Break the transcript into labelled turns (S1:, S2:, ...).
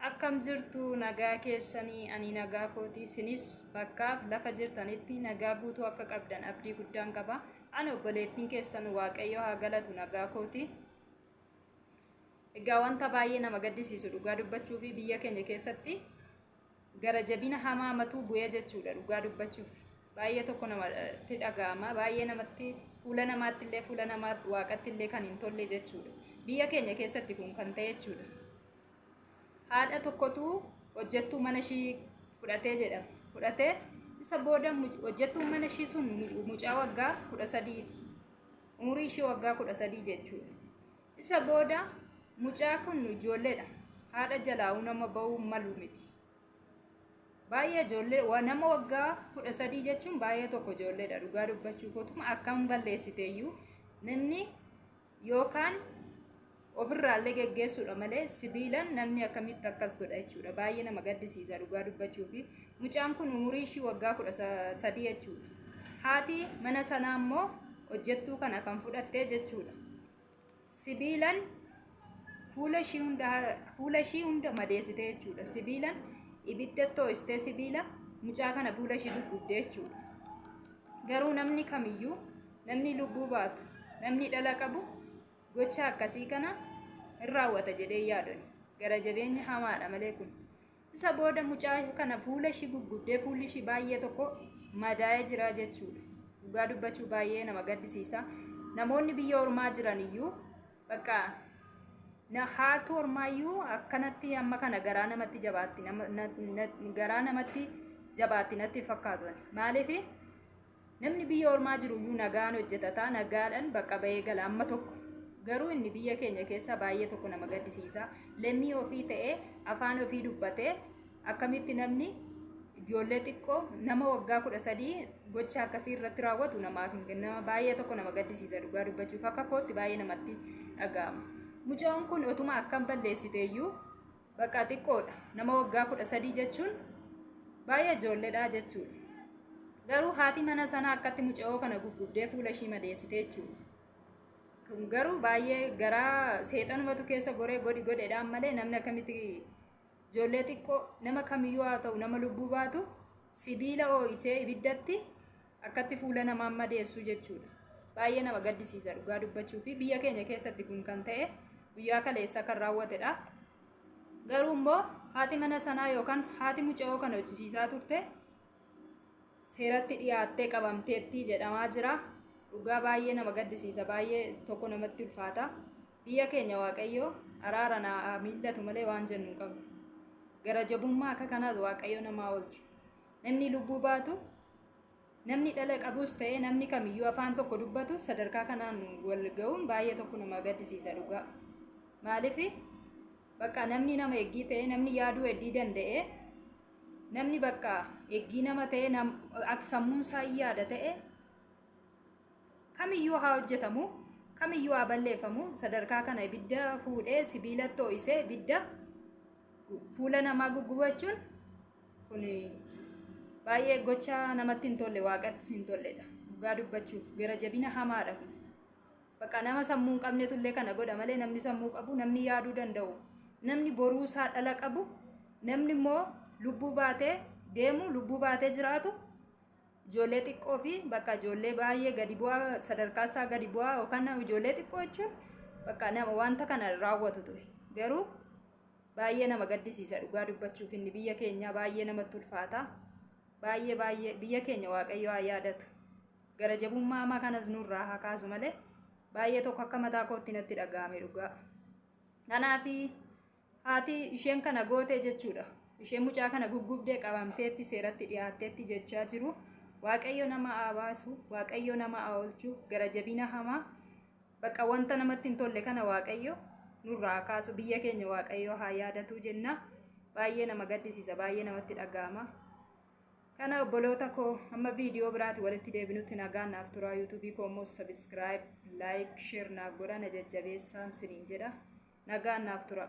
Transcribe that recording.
S1: akkam jirtu nagaa keessanii ani nagaa kooti isinis bakkaaf lafa jirtanitti nagaa guutuu akka qabdan abdii guddaan qaba ani obboleettiin keessan waaqayyo haa galatu nagaa kooti egaa wanta baay'ee nama gaddisiisu dhugaa dubbachuu fi biyya keenya keessatti gara jabina hamaa matuu bu'ee jechuudha dhugaa dubbachuuf baay'ee tokko namatti dhaga'ama baay'ee namatti fuula namaatti illee fuula namaa waaqatti illee kan hin tolle jechuudha biyya keenya keessatti kun kan ta'e jechuudha haadha tokkotu hojjettuu mana ishii fudhatee jedhama fudhatee isa booda hojjettuun mana ishii sun mucaa waggaa kudha sadiiti umurii ishii waggaa kudha sadii jechuudha Isa booda mucaa kun ijoolleedha. Haadha jalaa'uu nama ba'uu malu miti. Baay'ee ijoollee wa- nama waggaa kudha sadii jechuun baay'ee tokko ijoolleedha dhugaa dubbachuu kootuma akkam balleessiteeyyuu namni yookaan ofirraallee geggeessuudha malee sibiilan namni akkamitti akkas godha jechuudha baay'ee nama gaddisiisa dhugaa dubbachuu fi mucaan kun umurii ishii waggaa kudha sa- sadii jechuudha. Haati mana sanaa immoo hojjettuu kana kan fudhattee jechuudha. sibiilan fuula ishii hunda fuula ishii hunda madeessite jechuudha sibiilan ibidda too'istee sibiila mucaa kana fuula ishii gurgudde jechuudha garuu namni kamiyyuu namni lubbuu baatu namni dhala qabu gocha akkasii kana hin raawwata jedhee yaadon gara jabeenya hamaadha malee kun Isa booda mucaa kana fuula ishii gugguddee fuulli ishii baay'ee tokko madaa'ee jira jechuudha. Dhugaa dubbachuu baay'ee nama gaddisiisa. Namoonni biyya ormaa jiran iyyuu bakka na haartuu ormaa iyyuu akkanatti amma kana garaa namatti jabaatti nama- na- na- garaa namatti jabaatti natti hin fakkaatu ani. Maaliif Namni biyya ormaa jiru iyyuu nagaan hojjetata, nagaadhan bakka bahee gala amma tokko. Garuu inni biyya keenya keessa baay'ee tokko nama gaddisiisa. Lammii ofii ta'ee afaan ofii dubbatee akkamitti namni ijoollee xiqqoo nama waggaa kudha sadii gocha akkasii irratti raawwatu namaaf hin nama baay'ee tokko nama gaddisiisa dhugaa dubbachuuf akka kootti baay'ee namatti dhaga'ama. Mucoon kun otuma akkam balleessite iyyuu Baqaa xiqqoodha. Nama waggaa kudha sadii jechuun baay'ee ijoolledha jechuudha. Garuu haati mana sana akkatti mucayoo kana gurgurdee fuula ishii madeessite jechuudha. Kun garuu baay'ee garaa seexanumatu keessa goree godhi godhedhaan malee namni akkamitti ijoollee xiqqoo nama kamiyyuu haa ta'u nama lubbuu baatu sibiila oo'isee ibiddatti Akkatti fuula namaa madeessu jechuudha. Baay'ee nama gaddisiisa dhugaa dubbachuu fi biyya keenya keessatti kun kan ta'e guyyaa kaleessa kan raawwatedha. Garuu immoo haati mana sanaa yookaan haati mucayoo kan hojjisiisaa turte seeratti dhiyaattee qabamteetti jedhamaa jira. Dhugaa baay'ee nama gaddisiisa baay'ee tokko namatti ulfaata. Biyya keenya waaqayyoo araara naa miillatu malee waan jennu hin qabnu. Gara jabummaa akka kanaas waaqayyo namaa oolchu. Namni lubbuu baatu, namni dhala qabus ta'ee namni kamiyyuu afaan tokko dubbatu sadarkaa kanaan wal ga'uun baay'ee tokko nama gaddisiisa dhugaa. Maaliif bakka namni nama eeggii ta'ee namni yaaduu heddii danda'ee namni bakka eeggii nama ta'ee nam- ak- sammuun isaa hin yaada ta'ee kamiyyuu haa hojjetamu kamiyyuu haa balleeffamu sadarkaa kana ibidda fuudhee sibiilatti ho'isee ibidda fuula namaa guggubachuun Kun baay'ee gocha namatti hin tolle waaqattis hin tolledha. Dhugaa dubbachuuf gara jabina hamaadha kun. Bakka nama sammuu hin qabnetu illee kana godha malee namni sammuu qabu namni yaaduu danda'u namni boruu isaa dhala qabu namni immoo lubbuu baatee deemu lubbuu baatee jiraatu ijoollee xiqqoo fi bakka ijoollee baay'ee gadi bu'aa sadarkaa isaa gadi bu'aa yookaan ijoollee xiqqoo jechuun bakka nama wanta kana raawwatu ture garuu Baay'ee nama gaddisiisa dhugaa dubbachuuf inni biyya keenyaa baay'ee namatti ulfaata. Baay'ee baay'ee biyya keenya waaqayyo haa yaadatu. Gara jabummaa hamaa kanas nurraa haa kaasu malee baay'ee tokko akka mataa kootti natti dhaga'ame dhugaa. Kanaaf haati isheen kana gootee jechuudha. Isheen mucaa kana guggubdee qabamteetti seeratti dhiyaatteetti jechaa jiru. Waaqayyo nama haa baasu, waaqayyo nama haa oolchu, gara jabina hamaa Baqa wanta namatti hin tolle kana waaqayyo nurraa haa kaasu biyya keenya waaqayyo haa yaadatuu jenna baay'ee nama gaddisiisa baay'ee namatti dhaga'ama kana obboloota koo amma viidiyoo biraati walitti deebinutti nagaan naaf turaa yuutuubii koo immoo sabiskiraayib laayik sheer naaf godha na jajjabeessaan siniin jedha nagaan naaf tura.